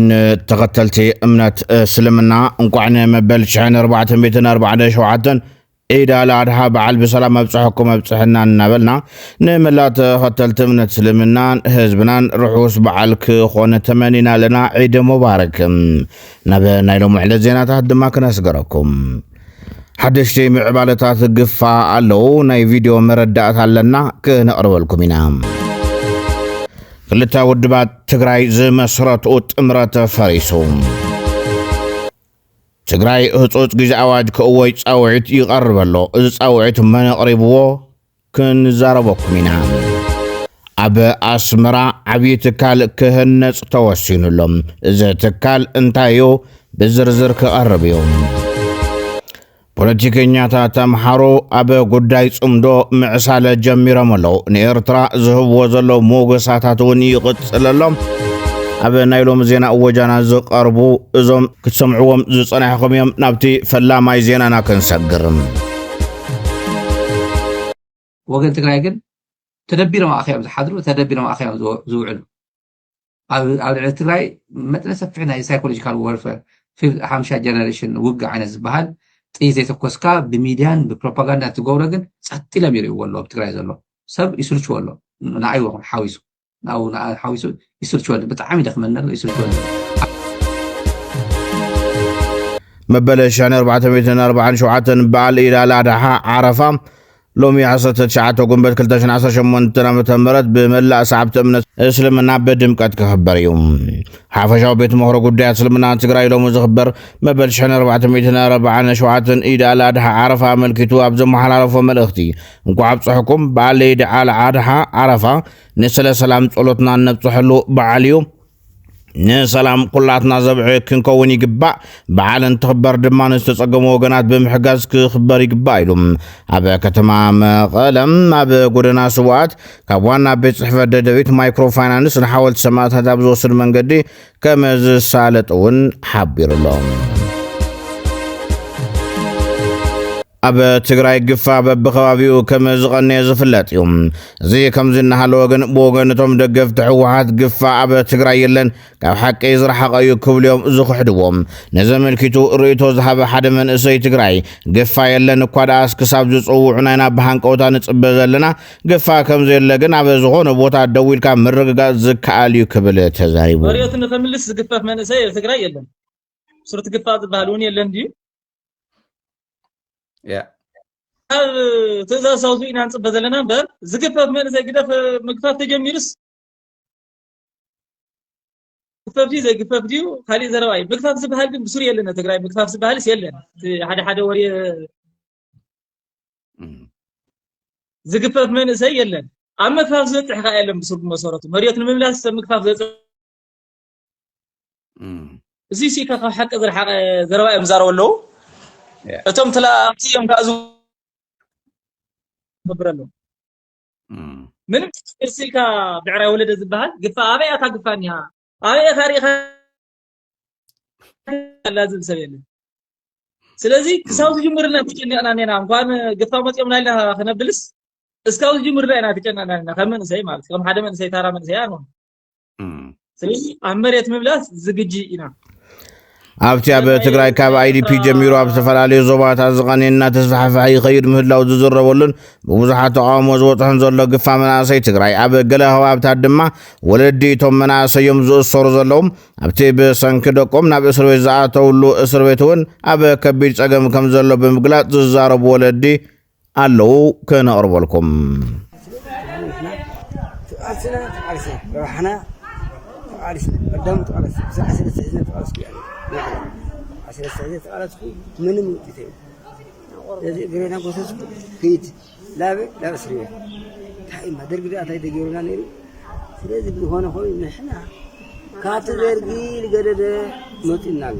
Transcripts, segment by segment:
ንተኸተልቲ እምነት እስልምና እንቋዕ ንመበል 1447 ዒድ ኣልኣድሓ በዓል ብሰላም ኣብፅሐኩም ኣብፅሐና እናበልና ንመላ ተኸተልቲ እምነት እስልምናን ህዝብናን ርሑስ በዓል ክኾነ ተመኒና ኣለና ዒድ ሙባረክ ናብ ናይ ሎሚ ዕለት ዜናታት ድማ ክነስገረኩም ሓደሽቲ ምዕባለታት ግፋ ኣለዉ ናይ ቪድዮ መረዳእታ ኣለና ክነቕርበልኩም ኢና ክልተ ውድባት ትግራይ ዝመስረትኡ ጥምረት ፈሪሱ ትግራይ ህፁፅ ግዜ ኣዋጅ ክእወጅ ፃውዒት ይቐርብ ኣሎ እዚ ፃውዒት መን ኣቕሪብዎ ክንዛረበኩም ኢና። ኣብ ኣስመራ ዓብዪ ትካል ክህነፅ ተወሲኑ ኣሎ። እዚ ትካል እንታይ እዩ? ብዝርዝር ክቐርብ እዩ። ፖለቲከኛታት ኣምሓሩ ኣብ ጉዳይ ጽምዶ ምዕሳለ ጀሚሮም ኣለዉ ንኤርትራ ዝህብዎ ዘሎ ሞገሳታት እውን ይቕጽል ኣሎ ኣብ ናይ ሎሚ ዜና እወጃና ዝቐርቡ እዞም ክትሰምዕዎም ዝጸናሕኹም እዮም። ናብቲ ፈላማይ ዜናና ክንሰግር። ወገን ትግራይ ግን ተደቢሮም ኣኸዮም ዝሓድሩ ተደቢሮም ኣኸዮም ዝውዕሉ ኣብ ልዕሊ ትግራይ መጥነ ሰፊሕ ናይ ሳይኮሎጂካል ወርፈር ሓምሻ ጀነሬሽን ውግእ ዓይነት ዝበሃል ጥይ ዘይተኮስካ ብሚድያን ብፕሮፓጋንዳ ትገብሮ ግን ጸጥ ኢሎም ይርእዎ ኣሎ ኣብ ትግራይ ዘሎ ሰብ ይስልችዎ ኣሎ ንኣይ ይኹን ሓዊሱ ናብኡ ንኣ ሓዊሱ ይስልችወኒ ብጣዕሚ ይደክመኒ ኣሎ ይስልችወኒ መበለ ሻኒ 447 በዓል ኢድ ኣል ኣድሓ ዓረፋ ሎሚ 19 ጉንበት 2018 ዓ ም ብመላእ ሰዓብቲ እምነት እስልምና ብድምቀት ክኽበር እዩ ሓፈሻዊ ቤት ምኽሮ ጉዳያት እስልምና ትግራይ ሎሚ ዝኽበር መበል 1447 ኢድ ኣል ኣድሓ ዓረፋ ኣመልኪቱ ኣብ ዘመሓላለፎ መልእኽቲ እንኳዕ ኣብፀሐኩም በዓል ኢድ ኣል ኣድሓ ዓረፋ ንስለ ሰላም ጸሎትና እነብፅሐሉ በዓል እዩ ንሰላም ኩላትና ዘብዒ ክንከውን ይግባእ በዓል እንትኽበር ድማ ንዝተፀገሙ ወገናት ብምሕጋዝ ክኽበር ይግባእ ኢሉ ኣብ ከተማ መቐለም ኣብ ጎደና ስዋኣት ካብ ዋና ቤት ፅሕፈት ደደቢት ማይክሮ ፋይናንስ ንሓወልቲ ሰማእታት ኣብ ዝወስድ መንገዲ ከም ዝሳለጥ እውን ሓቢሩ ኣሎ ኣብ ትግራይ ግፋ በብኸባቢኡ ከም ዝቐነየ ዝፍለጥ እዩ። እዚ ከምዚ እናሃለወ ግን ብወገን እቶም ደገፍቲ ህወሓት ግፋ ኣብ ትግራይ የለን ካብ ሓቂ ዝረሓቐ እዩ ክብሉ እዮም ዝኽሕድዎ። ነዚ ኣመልኪቱ ርእይቶ ዝሃበ ሓደ መንእሰይ ትግራይ ግፋ የለን እኳ ደኣስ ክሳብ ዝፅውዑና ኢና ብሃንቀውታ ንፅበ ዘለና ግፋ ከምዘየለ ግን ኣብ ዝኾነ ቦታ ደው ኢልካ ምርግጋፅ ዝከኣል እዩ ክብል ተዛሪቡ። መሬቱ ንክምልስ ዝግፈፍ መንእሰይ ኣብ ትግራይ የለን። ሱርቲ ግፋ ዝበሃል እውን የለን ድዩ? ኣብ ትእዛዝ ሳውዙ ኢና ንፅበ ዘለና እምበር ዝግፈፍ መንእሰይ ግደፍ ምግፋፍ ተጀሚሩስ ግፈፍ ድዩ ዘይግፈፍ ድዩ ካሊእ ዘረባ እዩ ምግፋፍ ዝበሃል ግን ብስሩ የለን ትግራይ ምግፋፍ ዝበሃልስ የለን ሓደ ሓደ ወሬ ዝግፈፍ መንእሰይ የለን ኣብ ምግፋፍ ዝበፅሕ ከዓ የለን ብስሩ ብመሰረቱ መሬት ንምምላስ ምግፋፍ ዘፅ እዚ ሲ ካብ ሓቂ ዝረሓቐ ዘረባ እዮም ዝዛረቡ ኣለዉ እቶም ተላኣምቲ እዮም ከዓ ዝገብር ኣለዉ ምንም ቅርሲ ኢልካ ብዕራይ ወለደ ዝበሃል ግፋ ኣበይ ኣታ ግፋ እኒሃ ኣበይ እኻ ርኢኻ ኣላ ዝብል ሰብ የለን ስለዚ ክሳብ ዝጅምርና ተጨኒቕና ኔና እንኳን ግፋ መፂኦምና ኢልና ክነብልስ እስካብ ዝጅምርና ኢና ተጨኒቕና ኔና ከም መንእሰይ ማለት ከም ሓደ መንእሰይ ታራ መንእሰይ ኣንሆን ስለዚ ኣብ መሬት ምምላስ ዝግጂ ኢና ኣብቲ ኣብ ትግራይ ካብ ኣይዲፒ ጀሚሩ ኣብ ዝተፈላለዩ ዞባታት ዝቐነ እናተስፋሕፈሐ ይኸይድ ምህላው ዝዝረበሉን ብብዙሓት ተቃውሞ ዝበፅሖን ዘሎ ግፋ መናእሰይ ትግራይ ኣብ ገለ ከባብታት ድማ ወለዲ እቶም መናእሰዮም ዝእሰሩ ዘለዉ ኣብቲ ብሰንኪ ደቆም ናብ እስር ቤት ዝኣተውሉ እስር ቤት እውን ኣብ ከቢድ ፀገም ከም ዘሎ ብምግላፅ ዝዛረቡ ወለዲ ኣለዉ ክነቕርበልኩም። ካብቲ ደርጊ ዝገደደ መፂኡና ኣሎ።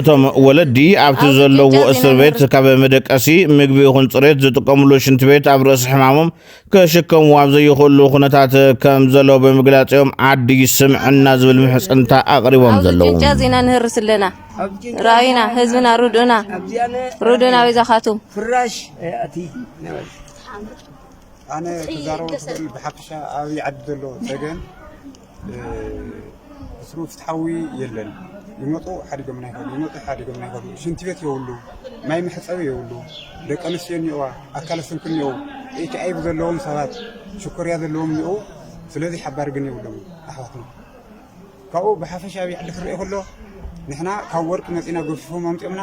እቶም ወለዲ ኣብቲ ዘለዎ እስር ቤት ካብ መደቀሲ ምግቢ ይኹን ፅሬት ዝጥቀምሉ ሽንቲ ቤት ኣብ ርእሲ ሕማሞም ክሽከምዎ ኣብ ዘይኽእሉ ኩነታት ከም ዘለዉ ብምግላፅ እዮም ዓዲ ስምዕና ዝብል ምሕፅንታ ኣቕሪቦም ዘለዉ ጭንጫ ዜና ንህርስ ኣለና ራእዩና ህዝብና ርድኡና ርድኡና ወይ ዛኻቱም ኣነ ተዛረቡ ብሓፈሻ ኣብይ ዓዲ ዘለዎ ፀገም ፍትሩ ፍትሓዊ የለን ይመጡ ሓዲጎምና ይኸዱ ይመጡ ሓዲጎምና ይኸዱ ሽንቲ ቤት የብሉ ማይ መሕፀቢ የብሉ ደቂ ኣንስትዮ እኒኦዋ ኣካለ ስንኩል እኒኦ ኤች ኣይቪ ዘለዎም ሰባት ሽኮርያ ዘለዎም እኒኦ ስለዚ ሓባሪ ግን የብሎም ኣሕዋትና ካብኡ ብሓፈሻ ኣብ ዓዲ ክርአ ከሎ ንሕና ካብ ወርቂ መፂና ገፊፎም ኣምጢኦምና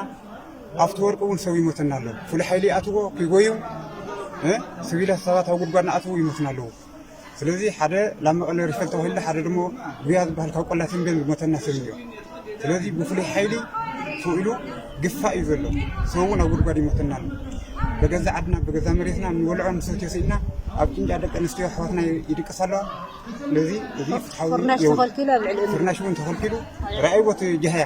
ኣብቲ ወርቂ እውን ሰብ ይሞተና ኣሎ ፍሉይ ሓይሊ ይኣትዎ ክጎዩ ስቢላት ሰባት ኣብ ጉድጓድ ንኣትዉ ይሞትና ኣለዉ ስለዚ ሓደ ላብ መቐለ ሪፈል ተባሂሉ ሓደ ድሞ ጉያ ዝበሃል ካብ ቆላ ተምቤን ዝሞተና ሰብ እኒኦ ስለዚ ብፍሉይ ሓይሊ ተውኢሉ ግፋእ እዩ ዘሎ ሰብ እውን ኣብ ጉድጓድ ይሞተና ኣሎ በገዛ ዓድና በገዛ መሬትና ንወልዖ ንሰትዮ ስኢና ኣብ ጭንጫ ደቂ ኣንስትዮ ኣሕዋትና ይድቅሳ ኣለዋ ስለዚ እዚ ፍትሓዊ ፍርናሽ ተኸልኪሉ ኣብ ልዕሊ ፍርናሽ እውን ተኸልኪሉ ርኣይዎ እቲ ጃህያ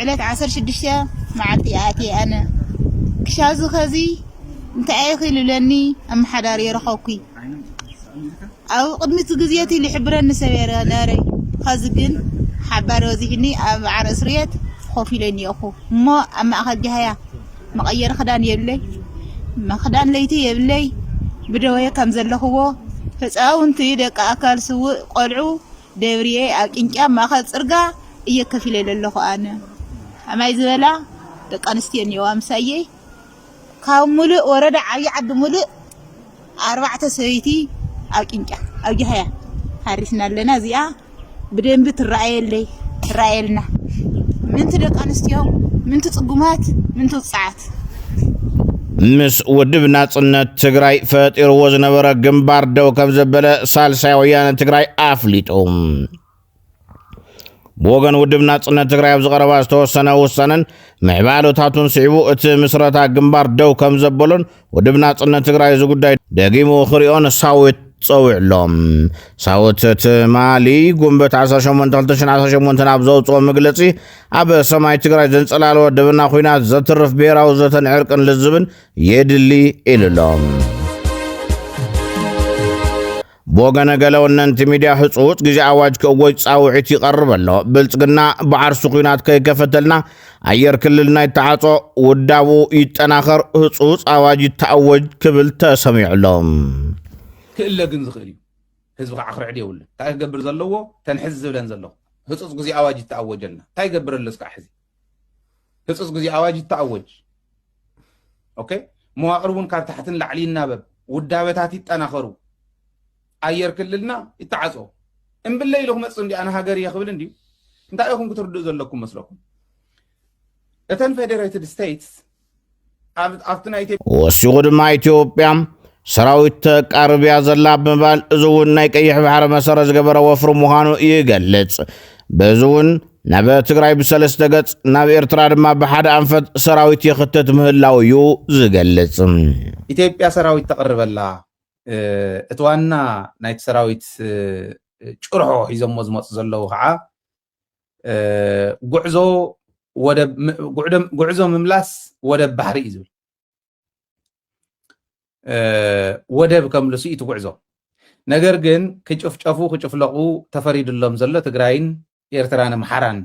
ዕለት ዓሰርተ ሽዱሽተ መዓልቲ እየ ኣትየ ኣነ ክሻዚ ከዚ እንታይ ኢኺ ልብለኒ ኣመሓዳሪ ረኸብኩ ኣብ ቅድሚት ግዜቲ ልሕብረኒ ሰብ ነረ ኸዚ ግን ሓባሪ በዚሕኒ ኣብ ዓረ እስርየት ኮፍ ኢለ እኒኦኹ እሞ ኣብ ማእኸል ጃህያ መቐየሪ ክዳን የብለይ መክዳን ለይቲ የብለይ ብደወየ ከም ዘለኽዎ ህፃውንቲ ደቂ ኣካል ስውእ ቆልዑ ደብርየ ኣብ ቂንጪ ኣብ ማእከል ጽርጋ እየ ከፍ ኢለ ለለኹ ኣነ ኣማይ ዝበላ ደቂ ኣንስትዮ እኒኦዋ ምሳየይ ካብ ሙሉእ ወረዳ ዓብዪ ዓዲ ሙሉእ ኣርባዕተ ሰበይቲ ኣብ ቂንጫ ኣብ ጃህያ ሃሪስና ኣለና እዚኣ ብደንቢ ትረኣየለይ ትረኣየልና ምንቲ ደቂ ኣንስትዮ ምንቲ ጽጉማት ምንቲ ውጽዓት ምስ ውድብ ናጽነት ትግራይ ፈጢርዎ ዝነበረ ግንባር ደው ከም ዘበለ ሳልሳይ ወያነ ትግራይ ኣፍሊጡ ብወገን ውድብ ናጽነት ትግራይ ኣብ ዝቐረባ ዝተወሰነ ውሳነን ምዕባለታቱን ስዒቡ እቲ ምስረታ ግንባር ደው ከም ዘበሎን ውድብ ናጽነት ትግራይ እዚ ጉዳይ ደጊሙ ክሪኦን ሳዊት ጸዊዕ ኣሎ ሳውት ትማሊ ጉንበት 18 2018 ኣብ ዘውፅኦ መግለፂ ኣብ ሰማይ ትግራይ ዘንጸላለወ ደበና ኹናት ዘትርፍ ብሔራዊ ዘተን ዕርቅን ልዝብን የድሊ ኢሉ ኣሎ። ብወገነ ገለ ወነንቲ ሚድያ ህፁፅ ግዜ ኣዋጅ ክእወጅ ፃውዒት ይቐርብ ኣሎ ብልፅግና ብዓርሱ ኩናት ከይከፈተልና ኣየር ክልል ናይ ተዓፆ ውዳቡ ይጠናኸር ህፁፅ ኣዋጅ ይተኣወጅ ክብል ተሰሚዑ ኣሎ ክእለ ግን ዝኽእል እዩ ህዝቢ ካዓ ክርዕድ የብሉን ታይ ክገብር ዘለዎ ተን ሕዚ ዝብለን ዘለኩ ህፁፅ ግዜ ኣዋጅ ይተኣወጀልና ታይ ይገብር ኣሎ እስካዕ ሕዚ ህፁፅ ግዜ ኣዋጅ ይተኣወጅ ኦኬ መዋቅር እውን ካብ ታሕቲ ንላዕሊ ይናበብ ውዳበታት ይጠናኸሩ ኣየር ክልልና ይተዓፆ እምብለይ ኢሉ ክመፅእ እንዲ ኣነ ሃገር እየ ክብል እንድዩ እንታይ ኢኹም ክትርድኡ ዘለኩም መስለኩም እተን ፌደሬትድ ስቴትስ ኣብቲ ናይ ኢትዮጵያ ወሲኹ ድማ ኢትዮጵያ ሰራዊት ተቃርብ እያ ዘላ ብምባል እዚ እውን ናይ ቀይሕ ባሕሪ መሰረት ዝገበረ ወፍሪ ምዃኑ ይገልጽ። በዚ እውን ናብ ትግራይ ብሰለስተ ገጽ ናብ ኤርትራ ድማ ብሓደ ኣንፈት ሰራዊት ይኽትት ምህላው እዩ ዝገልጽ። ኢትዮጵያ ሰራዊት ተቕርብ ኣላ። እቲ ዋና ናይቲ ሰራዊት ጭርሖ ሒዞሞ ዝመጹ ዘለዉ ከዓ ጉዕዞ ወደብ ጉዕዞ ምምላስ ወደብ ባሕሪ እዩ ዝብል ወደብ ከምልሱ እዩ ትጉዕዞ ነገር ግን ክጭፍጨፉ ክጭፍለቑ ተፈሪድሎም ዘሎ ትግራይን ኤርትራን ኣምሓራን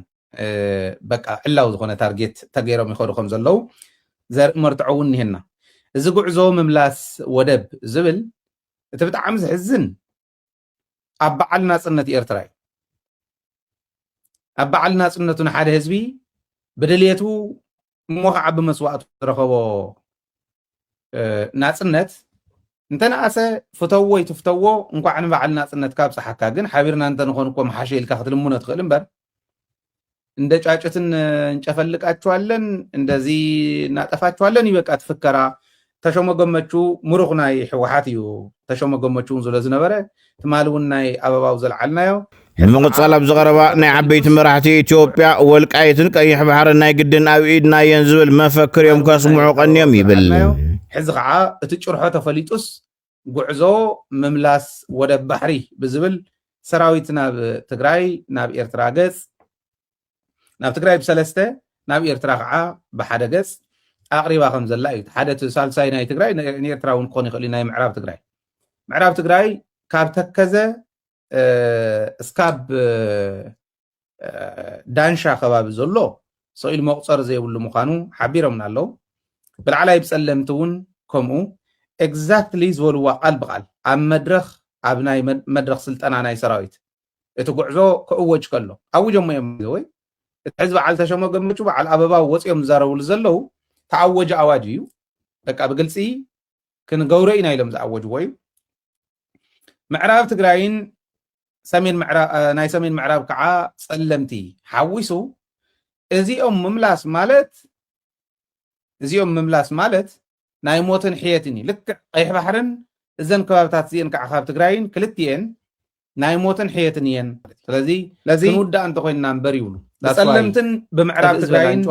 በቃ ዕላዊ ዝኾነ ታርጌት ተገይሮም ይኸዱ ከም ዘለዉ ዘርኢ መርትዖ እውን እኒሄና እዚ ጉዕዞ ምምላስ ወደብ ዝብል እቲ ብጣዕሚ ዝሕዝን ኣብ በዓል ናጽነት ኤርትራ እዩ። ኣብ በዓል ናጽነቱ ንሓደ ህዝቢ ብድልየቱ እሞ ከዓ ብመስዋእቱ ዝረኸቦ ናጽነት እንተነኣሰ ፍተዎ ይትፍተዎ እንኳዕ ንበዓል ናጽነትካ ኣብፅሓካ ግን ሓቢርና እንተንኾን እኮ ምሓሸ ኢልካ ክትልምኖ ትኽእል እምበር እንደ ጫጩትን እንጨፈልቃችኋለን እንደዚህ እናጠፋችኋለን ይበቃ ትፍከራ ተሾመ ገመቹ ምሩኽ ናይ ሕወሓት እዩ ተሾመ ገመቹ እውን ዝሎ ዝነበረ ትማሊ እውን ናይ ኣበባው ዘልዓልናዮ ንምቕፃል ኣብ ዝቐረባ ናይ ዓበይቲ መራሕቲ ኢትዮጵያ ወልቃይትን ቀይሕ ባሕርን ናይ ግድን ኣብ ኢድና እየን ዝብል መፈክር እዮም ከስምዑ ቀንዮም ይብል ሕዚ ከዓ እቲ ጭርሖ ተፈሊጡስ ጉዕዞ ምምላስ ወደብ ባሕሪ ብዝብል ሰራዊት ናብ ትግራይ ናብ ኤርትራ ገፅ ናብ ትግራይ ብሰለስተ ናብ ኤርትራ ከዓ ብሓደ ገፅ ኣቕሪባ ከም ዘላ እዩ ሓደ እቲ ሳልሳይ ናይ ትግራይ ንኤርትራ እውን ክኾን ይኽእል እዩ ናይ ምዕራብ ትግራይ ምዕራብ ትግራይ ካብ ተከዘ እስካብ ዳንሻ ከባቢ ዘሎ ሰኢሉ መቁፀሪ ዘይብሉ ምዃኑ ሓቢሮምና ኣለው ብላዕላይ ብፀለምቲ እውን ከምኡ ኤግዛክትሊ ዝበልዋ ቃል ብቃል ኣብ መድረኽ ኣብ ናይ መድረኽ ስልጠና ናይ ሰራዊት እቲ ጉዕዞ ክእወጅ ከሎ ኣውጀሞ እዮም ወይ እቲ ሕዚ በዓል ተሸሞ ገመቹ በዓል ኣበባ ወፂኦም ዝዛረብሉ ዘለው ተኣወጀ ኣዋጅ እዩ በቃ ብግልፂ ክንገብሮ ኢና ኢሎም ዝኣወጅዎ እዩ ምዕራብ ትግራይን ናይ ሰሜን ምዕራብ ከዓ ፀለምቲ ሓዊሱ እዚኦም ምምላስ ማለት እዚኦም ምምላስ ማለት ናይ ሞትን ሕየትን እዩ ልክዕ ቀይሕ ባሕርን እዘን ከባብታት እዚአን ከዓ ካብ ትግራይን ክልቲኤን ናይ ሞትን ሕየትን እየን ስለዚ ለዚ ክንውዳእ እንተኮይንና እምበር ይብሉ ብፀለምትን ብምዕራብ ትግራይን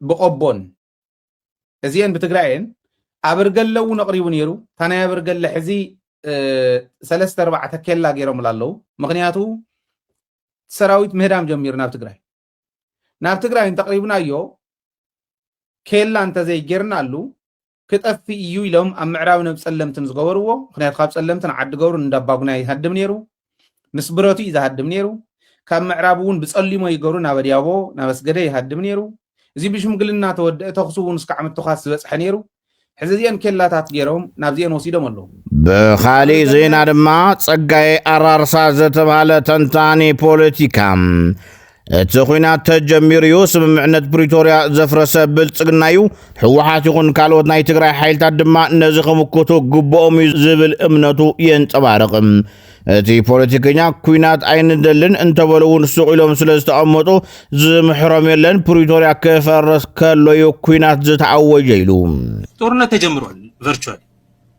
ብቆቦን እዚኤን ብትግራይ እየን ኣበርገለ እውን ኣቕሪቡ ነይሩ እታ ናይ ኣበርገለ ሕዚ ሰለስተ ኣርባዕተ ኬላ ገይሮምላ ኣለዉ ምክንያቱ ሰራዊት ምህዳም ጀሚሩ ናብ ትግራይ ናብ ትግራይ እንተቕሪብናዮ ኬላ እንተዘይጌርናሉ ክጠፍ እዩ ኢሎም ኣብ ምዕራብ ነብ ፀለምትን ዝገበርዎ ምክንያቱ ካብ ፀለምትን ዓዲ ገብሩ እንዳባጉና ይሃድም ነይሩ ምስ ብረቱ እዩ ዝሃድም ነይሩ። ካብ ምዕራብ እውን ብጸሊሞ ይገሩ ናብ ኣድያቦ ናብ ኣስገደ ይሃድም ነይሩ። እዚ ብሽምግልና ተወደእ ተኹሲ እውን እስካዕ ምትዃስ ዝበጽሐ ነይሩ። ሕዚ እዚኤን ኬላታት ገይሮም ናብዚኤን ወሲዶም ኣለዉ። ብኻሊእ ዜና ድማ ጸጋዬ ኣራርሳ ዝተብሃለ ተንታኒ ፖለቲካ እቲ ኹናት ተጀሚሩ እዩ። ስምምዕነት ፕሪቶርያ ዘፍረሰ ብልፅግና እዩ። ህወሓት ይኹን ካልኦት ናይ ትግራይ ሓይልታት ድማ ነዚ ክምክቱ ግብኦም እዩ ዝብል እምነቱ የንፀባርቕ። እቲ ፖለቲከኛ ኩናት ኣይንደልን እንተበሉ እውን ሱቕ ኢሎም ስለ ዝተቐመጡ ዝምሕሮም የለን። ፕሪቶርያ ክፈርስ ከሎ እዩ ኩናት ዝተኣወጀ ኢሉ። ጦርነት ተጀምሯል ቨርቹዋሊ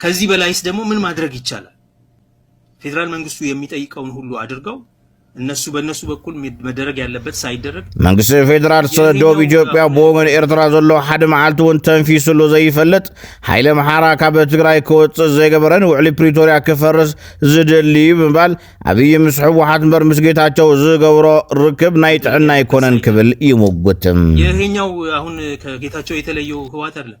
ከዚህ በላይስ ደግሞ ምን ማድረግ ይቻላል? ፌዴራል መንግስቱ የሚጠይቀውን ሁሉ አድርገው እነሱ በእነሱ በኩል መደረግ ያለበት ሳይደረግ መንግስቲ ፌዴራል ስለ ዶብ ኢትዮጵያ ብወገን ኤርትራ ዘሎ ሓደ መዓልቲ እውን ተንፊሱሉ ዘይፈልጥ ሓይለ መሓራ ካብ ትግራይ ክወፅእ ዘይገበረን ውዕሊ ፕሪቶርያ ክፈርስ ዝደሊ እዩ ብምባል ኣብይ ምስ ሕወሓት እምበር ምስ ጌታቸው ዝገብሮ ርክብ ናይ ጥዕና ኣይኮነን ክብል ይሙግት ይሄኛው አሁን ከጌታቸው የተለየው ህወሓት አይደለም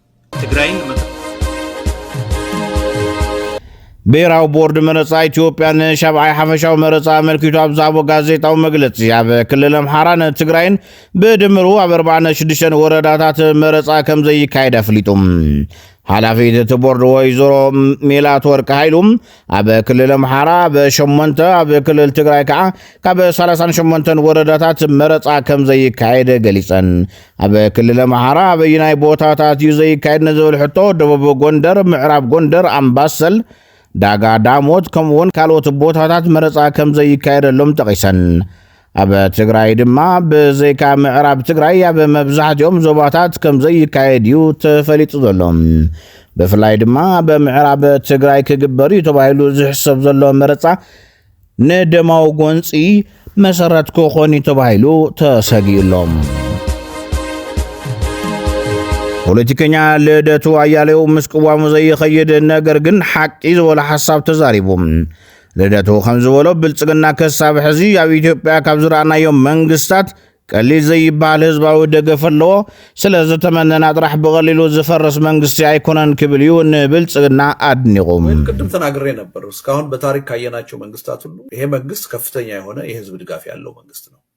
ትግራይን ብሄራዊ ቦርድ መረፃ ኢትዮጵያ ንሻብዓይ ሓፈሻዊ መረፃ ኣመልኪቱ ኣብ ዝሃቦ ጋዜጣዊ መግለፂ ኣብ ክልል ኣምሓራን ትግራይን ብድምሩ ኣብ 46 ወረዳታት መረፃ ከም ዘይካየድ ኣፍሊጡ ሓላፊት እቲ ቦርድ ወይዘሮ ሜላት ወርቂ ሃይሉ ኣብ ክልል ኣምሓራ ኣብ ሸሞንተ ኣብ ክልል ትግራይ ከዓ ካብ 38 ወረዳታት መረፃ ከም ዘይካየድ ገሊፀን ኣብ ክልል ኣምሓራ ኣበይናይ ቦታታት እዩ ዘይካየድ ንዝብል ሕቶ ደቡብ ጎንደር ምዕራብ ጎንደር ኣምባሰል ዳጋ ዳሞት ከምኡውን ካልኦት ቦታታት መረፃ ከም ዘይካየደሎም ጠቒሰን ኣብ ትግራይ ድማ ብዘይካ ምዕራብ ትግራይ ኣብ መብዛሕትኦም ዞባታት ከም ዘይካየድ እዩ ተፈሊጡ ዘሎ ብፍላይ ድማ ኣብ ምዕራብ ትግራይ ክግበር እዩ ተባሂሉ ዝሕሰብ ዘሎ መረፃ ንደማዊ ጎንፂ መሰረት ክኾን እዩ ተባሂሉ ተሰጊኡሎም ፖለቲከኛ ልደቱ ኣያሌው ምስ ቅዋሙ ዘይኸይድ ነገር ግን ሓቂ ዝበሎ ሓሳብ ተዛሪቡ ልደቱ ከም ዝበሎ ብልጽግና ከሳብ ሕዚ ኣብ ኢትዮጵያ ካብ ዝረኣናዮም መንግስታት ቀሊል ዘይበሃል ህዝባዊ ደገፍ ኣለዎ። ስለ ዝተመነና ጥራሕ ብቐሊሉ ዝፈርስ መንግስቲ ኣይኮነን ክብል እዩ ንብልጽግና ኣድኒቑ። ወይም ቅድም ተናግሬ ነበር እስካሁን በታሪክ ካየናቸው መንግስታት ሁሉ ይሄ መንግስት ከፍተኛ የሆነ የህዝብ ድጋፍ ያለው መንግስት ነው።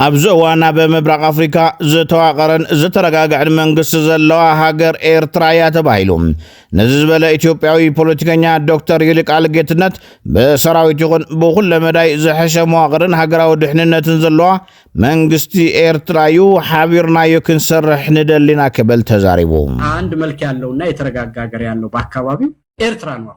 ኣብዚ እዋን ኣብ ምብራቕ ኣፍሪካ ዝተዋቐረን ዝተረጋግዐን መንግስቲ ዘለዋ ሃገር ኤርትራ እያ ተባሂሉ ነዚ ዝበለ ኢትዮጵያዊ ፖለቲከኛ ዶክተር ይልቃል ጌትነት ብሰራዊት ይኹን ብኩለ መዳይ ዝሐሸ መዋቕርን ሃገራዊ ድሕንነትን ዘለዋ መንግስቲ ኤርትራ እዩ ሓቢርናዮ ክንሰርሕ ንደሊና ክብል ተዛሪቡ። አንድ መልክ ያለውና የተረጋጋ ሀገር ያለው በአካባቢው ኤርትራ ነው።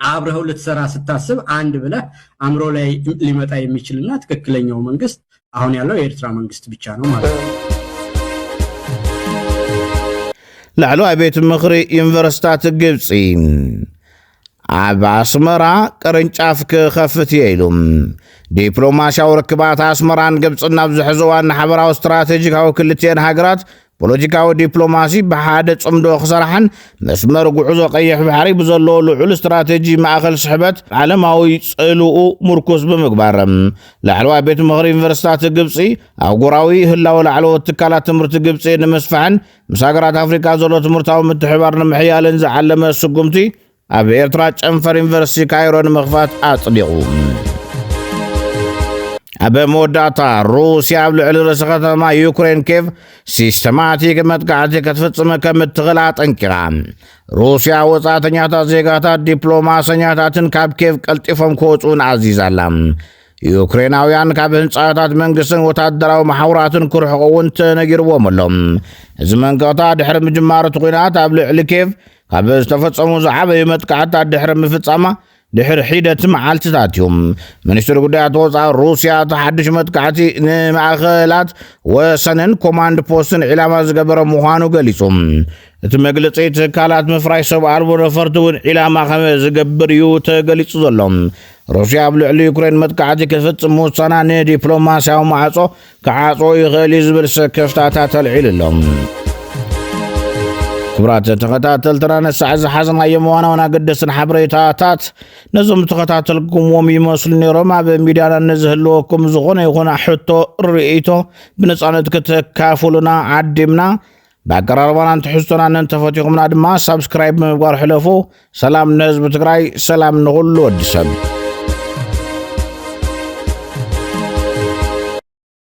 አብረኸው ልትሰራ ስታስብ አንድ ብለህ አእምሮ ላይ ሊመጣ የሚችልና ትክክለኛው መንግስት አሁን ያለው የኤርትራ መንግስት ብቻ ነው ማለት ነው። ላዕለዋይ ቤት ምኽሪ ዩኒቨርስታት ግብፂ ኣብ ኣስመራ ቅርንጫፍ ክኸፍት እየ ኢሉ ዲፕሎማስያዊ ርክባት ኣስመራን ግብፅን ናብ ዝሕዘዋን ሓበራዊ ስትራቴጂካዊ ክልትኤን ሃገራት ፖለቲካዊ ዲፕሎማሲ ብሓደ ጽምዶ ክሰርሓን መስመር ጉዕዞ ቀይሕ ባሕሪ ብዘለዎ ልዑል ስትራቴጂ ማእኸል ስሕበት ዓለማዊ ጽልኡ ምርኩስ ብምግባር ላዕለዋይ ቤት ምኽሪ ዩኒቨርሲታት ግብፂ ኣህጉራዊ ህላወ ላዕለዎት ትካላት ትምህርቲ ግብፂ ንምስፋሕን ምስ ሃገራት ኣፍሪካ ዘሎ ትምህርታዊ ምትሕባር ንምሕያልን ዝዓለመ ስጉምቲ ኣብ ኤርትራ ጨንፈር ዩኒቨርሲቲ ካይሮ ንምኽፋት ኣጽዲቑ። ኣብ መወዳእታ ሩስያ ኣብ ልዕሊ ርእሲ ከተማ ዩክሬን ኬቭ ሲስተማቲክ መጥቃዕቲ ክትፍጽም ከም እትኽእል ኣጠንቂቓ። ሩስያ ወጻእተኛታት ዜጋታት ዲፕሎማሰኛታትን ካብ ኬቭ ቀልጢፎም ክወጽኡን ኣዚዛ ኣላ። ዩክሬናውያን ካብ ህንፃታት መንግስትን ወታደራዊ መሓውራትን ክርሕቑ እውን ተነጊርዎም ኣሎ እዚ መንቀቕታ ድሕሪ ምጅማር እቲ ኩናት ኣብ ልዕሊ ኬቭ ካብ ዝተፈጸሙ ዝዓበዩ መጥቃዕትታት ድሕሪ ምፍጻማ ድሕሪ ሒደት መዓልትታት እዩ ሚኒስትሪ ጉዳያት ወፃኢ ሩስያ እቲ ሓድሽ መጥቃዕቲ ንማእኸላት ወሰንን ኮማንድ ፖስትን ዒላማ ዝገበረ ምዃኑ ገሊጹ እቲ መግለፂ ትካላት ምፍራይ ሰብ ኣልቦ ነፈርቲ እውን ዒላማ ከም ዝገብር እዩ ተገሊጹ ዘሎ ሩስያ ኣብ ልዕሊ ዩክሬን መጥቃዕቲ ክፍፅም ምውሳና ንዲፕሎማስያዊ ማዕፆ ክዓጽዎ ይኽእል እዩ ዝብል ስክፍታታት ኣልዒሉ ኣሎ። ክብራት ተኸታተልትና ነሳዕ ዝሓዝናዮም ዋና ዋና ኣገደስን ሓበሬታታት ነዞም ተኸታተልኩምዎም ይመስሉ ነይሮም ኣብ ሚድያና ንዝህልወኩም ዝኾነ ይኹን ሕቶ ርእይቶ ብነፃነት ክተካፍሉና ዓዲምና ብኣቀራርባናን ትሕዝቶናን እንተፈቲኹምና ድማ ሳብስክራይብ ብምግባር ሕለፉ ሰላም ንህዝቢ ትግራይ ሰላም ንኹሉ ወዲ ሰብ